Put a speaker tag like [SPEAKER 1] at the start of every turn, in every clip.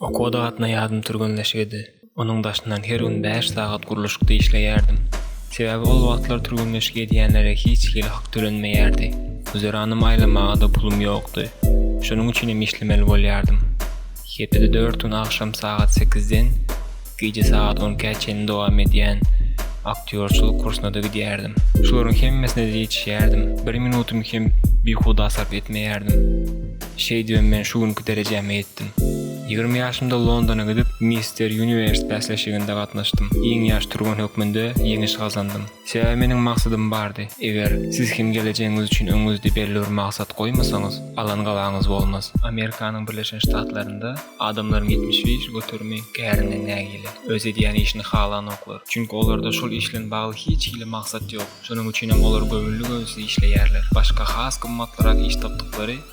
[SPEAKER 1] Okuwa gatna ýadym türgenleşigidi. Onuň daşyndan her gün bäş sagat gurluşykda işleýärdim. Sebäbi ol wagtlar türgenleşik edýänlere hiç hili hak tölenmeýärdi. Güzeranymy aýlamaga-da pulum ýokdy. Şonuň üçinem işlemeli bolýardym. Hepede dört gün agşam sagat sekizden. Gije sagat on ikä çenli dowam edýän aktýorçylyk kursyna-da gidýärdim. Şularyň hemmesine-de ýetişýärdim. Bir minutymy hem bihuda sarp etmeýärdim. Şeýdibem men şu günki derejäme ýetdim. Ýigrimi ýaşymda Londona gidip, Mister Uniwers bäsleşiginde gatnaşdym. Iň ýaş türgen hökmünde ýeňiş gazandym. Sebäbi meniň maksadym bardy. Eger Siz hem gelejegiňiz üçin öňüňizde belli bir maksat goýmasaňyz, alan gabaňyz bolmaz. Amerikanyň Birleşen Ştatlarynda adamlaryň ýetmiş besi göterimi kärinden nägile. Öz edýän işini halanoklar. Çünki olarda şol iş bilen bagly hiç hili maksat ýok. Şonuň üçinem olar göwünli-göwünsiz işleýärler. Başga has gymmatlyrak iş tapdyklary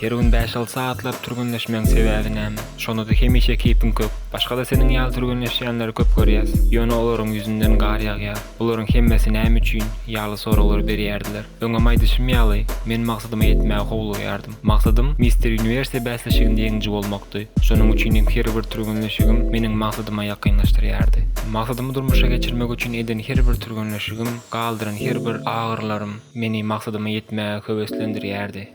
[SPEAKER 1] Her gün bäş-alty sagatlap türgenleşmegiň sebäbi näme? Şonda-da hemişe keýpiň kök. Başga-da seniň ýaly türgenleşýänleri köp görýäs. Ýöne olaryň ýüzünden gar ýagýar. Bularyň hemmesi näme üçin? ýaly soraglary berýärdiler. Öňem aýdyşym ýaly, men maksadyma ýetmäge howlugýardym. Maksadym Mister Uniwersiýa bäsleşiginde ýeňiji bolmakdy. Şonuň üçin hem her bir türgenleşigim meniň maksadyma ýakynlaşdyrýardy. Maksadymy durmuşa geçirmek üçin eden her bir türgenleşigim, galdyran her bir agyrylarym meni maksadyma ýetmäge höweslendirýärdi.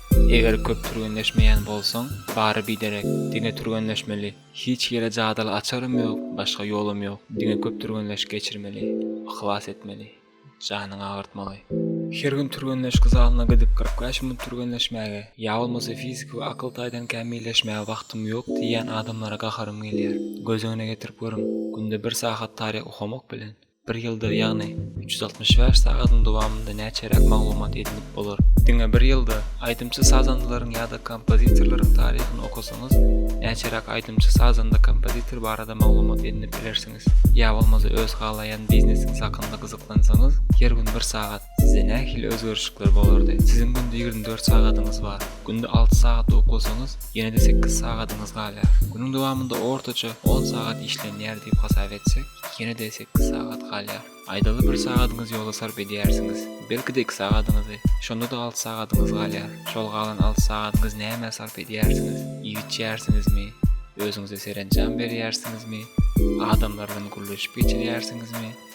[SPEAKER 1] Eger köp türgenleşmeýän bolsaň, bary biderek, diňe türgenleşmeli. Hiç ýere jadaly açarym ýok, başga ýolum ýok. Diňe köp türgenleşik geçirmeli. Yhlas etmeli. Janyňy agyrtmaly. Her gün türgenleşik zalyna gidip kyrk bäş minut türgenleşmäge, ýa bolmasa fiziki we akyl taýdan kämilleşmäge wagtym ýok diýýän adamlara gaharym gelýär. Göz öňüne getirip görüň, günde bir sagat taryh okamak bilen, Bir ýylda, ýagny üç ýüz altmyş bäş sagadyň dowamynda näçeräk maglumat edinip bolar? Diňe bir ýylda, aýdymçy-sazandalaryň ýa-da kompozitorlaryň taryhyny okasaňyz, näçeräk aýdymçy-sazanda-kompozitor barada maglumat edinip bilersiňiz? Ýa bolmasa öz halaýan biznesiňiz hakynda gyzyklansaňyz, her gün bir sagat, Sizde nähili özgerişlikler bolardy? Siziň günde ýigrimi dört sagadyňyz bar. Günde alty sagat uklasaňyz, ýene-de sekiz sagadyňyz galýar. Günüň dowamynda ortaça on sagat işlenýär diýip hasap etsek, ýene-de sekiz sagat galýar. Aýdaly bir sagadyňyz ýola sarp edýärsiňiz. Belki-de iki sagadyňyzy. Şonda-da alty sagadyňyz galýar. Şol galan alty sagadyňyzy nämä sarp edýärsiňiz? Iýip içýärsiňizmi? Özüňize serenjam berýärsiňizmi? Adamlar bilen gürleşip geçirýärsiňizmi?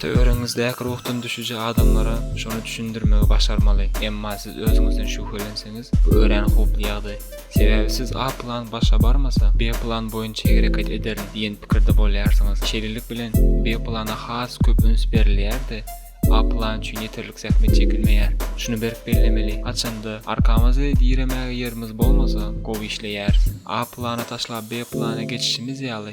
[SPEAKER 1] Töweregiňizdäki ruhdan düşüji adamlara şony düşündirmegi başarmaly. Emma siz özüňizden şübhelenseňiz, bu örän howply ýagdaý. Sebäbi siz A plan başa barmasa, B plan boýunça hereket ederin diýen pikirde bolýarsyňyz. Şeýlelik bilen, B plana has köp üns berilýär-de, A plan üçin ýeterlik zähmet çekilmeýär. Şuny berk bellemeli, haçanda arkamyzy diremäge ýerimiz bolmasa, gowy işleýäris. A plany taşlap B plana geçişimiz ýaly,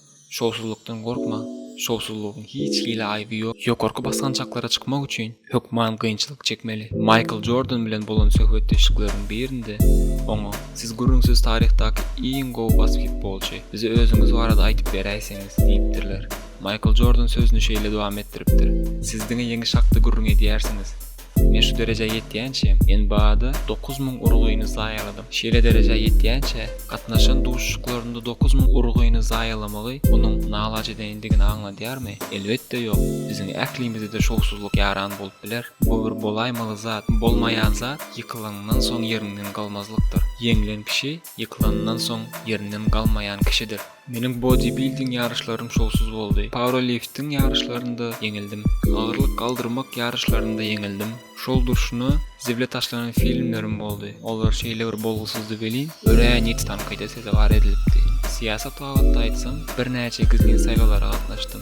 [SPEAKER 1] Şowsuzlykdan gorkma, şowsuzlygyň hiç hili aýby ýok. Ýokarky basgançaklara çykmak üçin hökman kynçylyk çekmeli. Maýkl Jordan bilen bolan söhbetdeşlikleriniň birinde oňa, Siz gürrüňsiz taryhdaky iň gowy basketbolçy. Bize özüňiz barada aýdyp beräýseňiz diýipdirler. Maýkl Jordan sözüni şeýle dowam etdiripdir, Siz diňe ýeňiş hakda gürrüň edýärsiňiz. Men şu derejä ýetýänçä, men bada dokuz müň urgyny zaýaladym. Şeýle derejä ýetýänçä, gatnaşan duşuşyklarynda dokuz müň urgyny zaýalamagy munuň nalaç edendigini aňladýarmy? Elbetde ýok. Biziň ählimize-de şowsuzlyk ýaran bolup biler. Bu bir bolaýmaly zat. Bolmaýan zat ýykylanyňdan soň ýeriňden galmazlykdyr. Ýeňlen kişi ýykylanyndan soň ýerinden galmaýan kişidir. Meniň bodibilding ýaryşlarym şowsuz boldy. Pauralifting ýaryşlarynda ýeňildim. Agyrlyk galdyrmak ýaryşlarynda ýeňildim. Şol durşuna zible taşlanan filmlerim boldy. Olar şeýle bir bolgusyzdy welin, örän ýiti tankyda sezewar edilipdi. Syýasat babatda aýtsam, birnäçe gizlin saýlawlara gatnaşdym.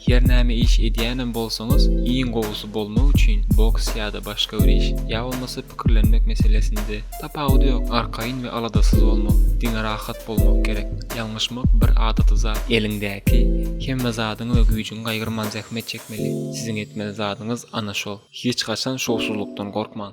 [SPEAKER 1] Her näme iş edýänem bolsaňyz, iň gowusy bolmak üçin boks ýa-da başga bir iş, ýa bolmasa pikirlenmek meselesinde, tapawudy ýok, arkaýyn we aladasyz bolmak, diňe rahat bolmak gerek. Ýalňyşmak bir adaty zat. Eliňdäki hemme zadyňy we güýjüňi gaýgyrman zähmet çekmeli. Siziň etmeli zadyňyz ana şol. Hiç haçan şowsuzlykdan gorkmaň.